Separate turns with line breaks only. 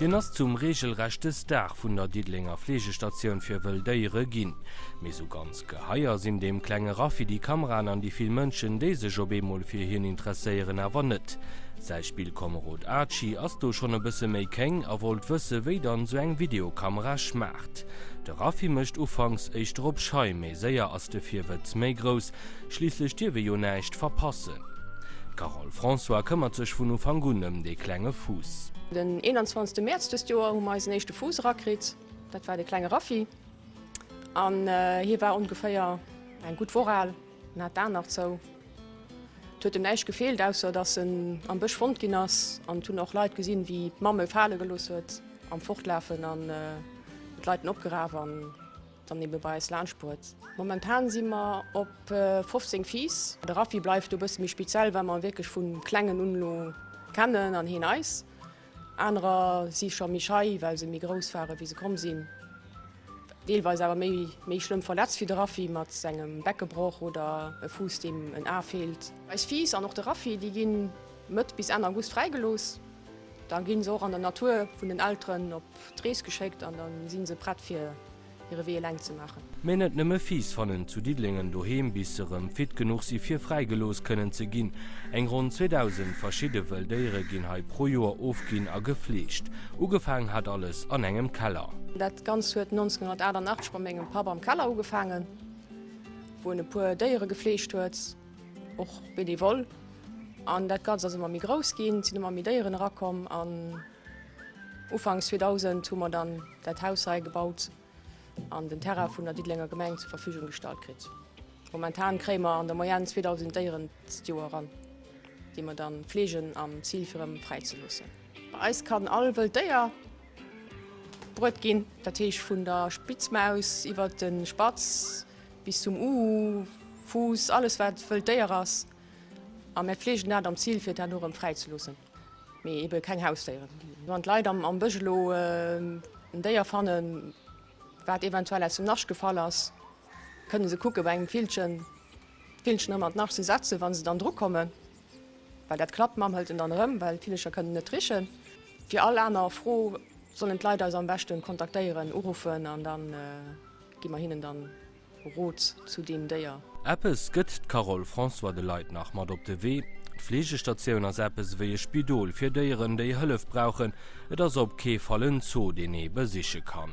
Hien ass zum reegelrechte Star vun der Diddelenger Fleegestatioun fir wëll Déiere ginn. Mee sou ganz Geheier sinn deem klenge Raffi déi Kameraen an déi vill Mënschen, déi sech op eemol fir hien interesséieren, awer net. Säi Spillkomerod Archie ass do schonn e bësse méi kéng a wollt wësse wéi dann esou eng Videokamera schmaacht. De Raffi mécht ufanks éischter op schei, mee séier ass de Virwëtz méi grouss, schliisslech dierf ee jo näischt verpassen. D'Carole François këmmert sech vun Ufank un ëm dee klenge Fuuss. Den
21 Mäerz dëst Joer hu mer eisen éischte Fuuss erakritt, dat war de klenge Raffi. An hie war ongeféier eng gutt Woch al, en hat d'Aen nach zou. Et huet em näischt gefeelt, ausser datt en am Bësch fonnt ginn ass. An et hunn och Leit gesinn, wéi d'Mamm e fale gelooss huet am Fortlafen an d'Leit en opgeraf an dann ebe bei eis laanscht bruet. Momentan si mer op 15 Fiiss. De Raffi bleift do e bësse méi speziell, well mer e wierklech vu Klengen un elo kennen an hien eis. Anerer si scho méi schei, well se méi grouss ware wéi se komm sinn. Deelweis awer méi méi schlëmm verletzt, wéi de Raffi mat sengem Beckebroch oder e Fuuss deem en A feelt. Eis Fiiss an och de Raffi, déi ginn Mëtt bis Enn August fräi gelooss. Da ginn se och an der Natur vun den Elteren op d'Rees geschéckt an da sinn se prett fir. hire Wee eleng ze maachen. Mee net nëmme Fiiss
fannen zu Diddelingen doheem, bis se erëm fit genuch si fir fräigelooss kënnen ze ginn. Eng ronn 2.000 verschidde wëll Déiere ginn hei pro Joer ofginn a gefleegt. Ugefaang hat alles an engem Keller. Dat Ganzt huet
1988 bei mengem Papp am Keller ugefaangen, wou en e puer Déiere gefleegt huet, och benevole. An dat Ganzt ass ëmmer méi grouss ginn, et sinn ëmmer méi Déieren erakomm. Ufanks 2000 hu mer dann dat Haus hei gebaut an den Terrain vun der Diddelenger Gemeng zur Verfügung gestallt kritt. Momentan kréie mer an der Moyenne 2000 Déieren d'Joer eran, déi mer da fleegen am Zil fir erëm fräi ze loossen. Bei eis kann all wëllt Déier bruet ginn, dat heescht vun der Spitzmaus iwwert de Spatz bis zum Uhu, Fuuss, alles wat wëllt Déier ass a mir fleegen dat am Zil fir dat elo erëm fräi ze loossen. Mee ebe keng Hausdéieren. Wann d'Leit am Bësch elo en Déier fannen, wat eventuell aus dem Nascht gefall ass, kënne se kucke bei engem Villchen, d'Villchen erëm an d'Nascht ze setzen, wa se dann drukommen. Well dat klappt, d'Mamm hëlt en dann erëm, well d'Villecher kënnen net richen. Fir all aner Fro sollen d'Leit eis am beschte kontaktéieren, uruffen an da gi mer hinnen dann Rot zu deem Déier. Eppes gëtt
d'Carole François de Leit nach mat op de Wee, D'Fleegestatioun ass eppes ewéi e Spidol fir Déieren, déi Hëllef brauchen. Et ass op kee Fall en Zoo, deen ee besiche kann.